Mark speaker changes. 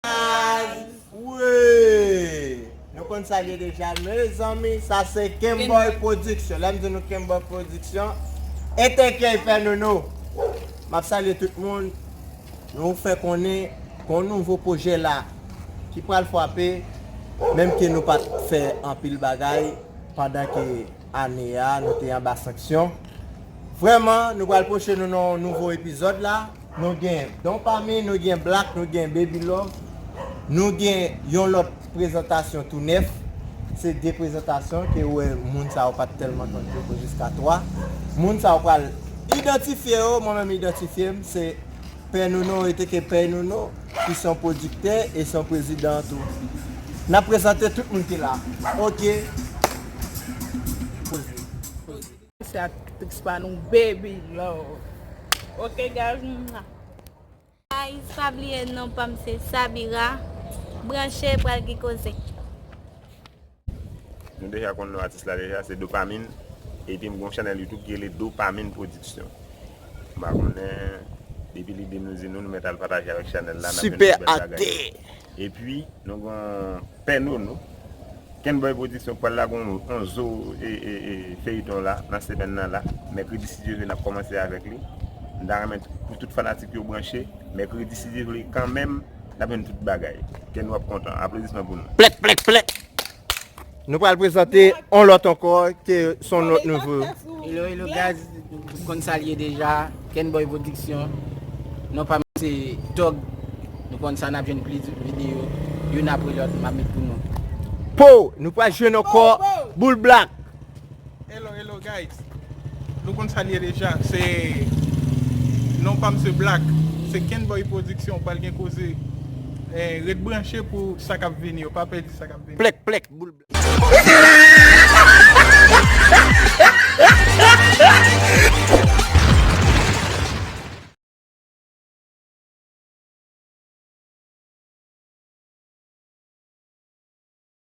Speaker 1: Baz wouuyy nou konn sa l ye deja mezanmi sa se Kemboy production lè m di nou Kemboy production Etekièy fè nou nou m ap salye tout moun nou fè konnen gon nouvo pwojè la ki pral fwape menm ke nou pa t fè anpil bagay pandan ke ane a nou te anba sanksyon vrèman nou pral pwoche nou nan yon nouvo epizòd la. Nou gen Don Pame, nou gen Black, nou gen Baby Love, nou gen yon lòt prezantasyon tou nèf. Se 2 prezantasyon ke ou wè moun sa yo pa t tèlman konn poko jiska 3. Moun sa yo pral idantifye yo, mwen menm idantifye m, se Pè Nono eteke Pèy Nono ki se yon pwodiktè e se yon prezidan tou. N ap prezante tout moun ki la. Ok. Poze.
Speaker 2: Se aktris pa nou baby love ok guys mwah.
Speaker 3: Guys pa bliye non pam se Sabira branche pral gen koze.
Speaker 4: Nou deja konn non atis la deja se Dopamine epi m gon chanel YouTube ki rele Dopamine production m pa konnen depi li di nou di nou nou mèt al pataje avèk chanel la nap jwenn pi bèl bagay.
Speaker 1: Epi
Speaker 4: nou gon pè nono. Kenboy production pral lage yon zo feyton la nan semèn nan la mèkredi si Dye vle nap kòmanse avèk li m ta renmen pou tout fanatik yo branche mèkredi si Dye vle kanmenm nap jwenn tout bagay kenny wap kontan aplodisman pou nou. Plèk plèk plèk!
Speaker 1: Nou pral prezante on lòt ankò ke son lòt nouvo. Hello hello
Speaker 2: guys, ou konn sa liye deja, Ken Boy Production. Non pa m se Tog. Nou konn sa nap jwenn plis video youn apre lòt map met pou nou. Po, nou
Speaker 1: pral jwenn ankò Boul Black. Hello
Speaker 5: hello guys Nou konn sa li ye deja se Non pam se Black Se Kenboy production pral gen koze Ret branche pou sa kap vini
Speaker 1: yo
Speaker 5: pa pèdi sa kap vini
Speaker 1: Plèk
Speaker 5: plèk boul blèk.